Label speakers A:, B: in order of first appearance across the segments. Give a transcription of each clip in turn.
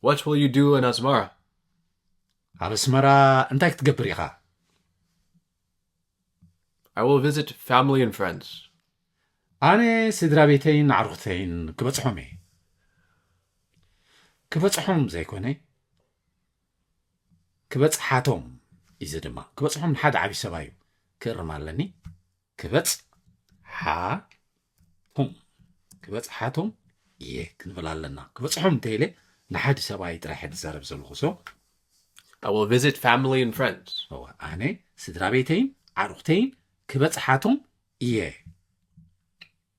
A: What will you do in Asmara? ኣብ ኣስመራ
B: እንታይ ክትገብር ኢኻ?
A: I will visit family and friends. ኣነ
B: ስድራ ቤተይን ኣዕሩኽተይን ክበጽሖም እየ። ክበጽሖም ዘይኮነ ክበጽሓቶም እዩ ድማ ክበጽሖም ንሓደ ዓብዪ ሰብኣዩ ክእርም ኣለኒ። ክበጽሓቶም ክበጽሓቶም እየ ክንብል ኣለና ክበጽሖም እንተኢለ ንሓዲ ሰብኣይ ጥራሕ ዝዛረብ ዘለኹ ሰ I
A: will visit family and friends ኣነ ስድራ
B: ቤተይን ዓርኹተይን ክበጽሓቶም እየ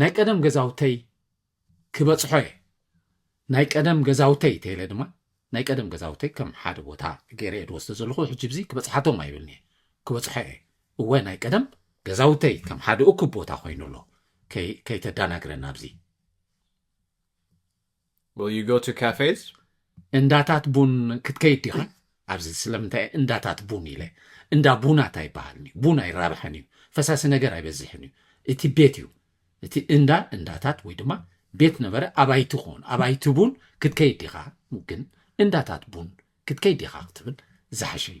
B: ናይ ቀደም ገዛውተይ ክበጽሖ እየ ናይ ቀደም ገዛውተይ ተይለ ድማ ናይ ቀደም ገዛውተይ ከም ሓደ ቦታ ገይረ እየ ዝወስደ ዘለኹ ሕጂ ብዚ ክበጽሓቶም ኣይብልን እየ ክበጽሖ እየ እወ ናይ ቀደም ገዛውተይ ከም ሓደ እኩብ ቦታ ኮይኑ ኣሎ ከይተዳናግረና ኣብዚ
A: Will you go to cafes? እንዳታት
B: ቡን ክትከይድ ዲኻ? ኣብዚ ስለምንታይ እየ እንዳታት ቡን ኢለ? እንዳ ቡናት ኣይበሃልን እዩ። ቡን ኣይራብሐን እዩ። ፈሳሲ ነገር ኣይበዝሕን እዩ። እቲ ቤት እዩ። እቲ እንዳ እንዳታት ወይ ድማ ቤት ነበረ ኣባይቲ ክኾኑ ኣባይቲ ቡን ክትከይድ ዲኻ? ግን እንዳታት ቡን ክትከይድ ዲኻ ክትብል ዝሓሸ እዩ።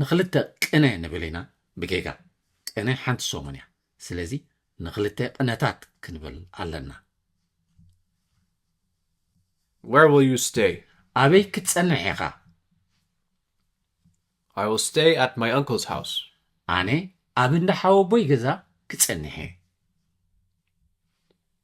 B: ንክልተ ቅነ ንብል ኢና ብጌጋ ቅነ ሓንቲ ሰሙን እያ ስለዚ ንክልተ ቅነታት ክንብል ኣለና።
A: Where will you stay? ኣበይ ክትጸንሕ
B: ኢኻ?
A: I will stay at my uncle's house. ኣነ
B: ኣብ እንዳ ሓወቦይ ገዛ ክጸንሕ እየ።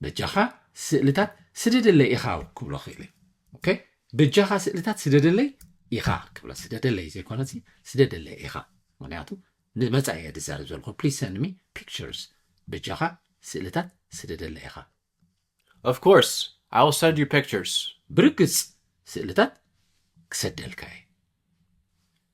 B: በጃኻ ስእልታት ስደደለይ ኢኻ ክብሎ ክኢለ ኦኬ በጃኻ ስእልታት ስደደለይ ኢኻ ክብሎ ስደደለይ ዘይኮነ ሲ ስደደለይ ኢኻ ምክንያቱ ንመጻኢ እየ ዝዛረብ ዘለኹ ፕሊዝ ሰንድ ሚ ፒክቸርስ በጃኻ ስእልታት ስደደለይ ኢኻ ኦፍ
A: ኮርስ ኣይ ዊል ሰንድ ዩ ፒክቸርስ ብርግጽ
B: ስእልታት ክሰደልካ እየ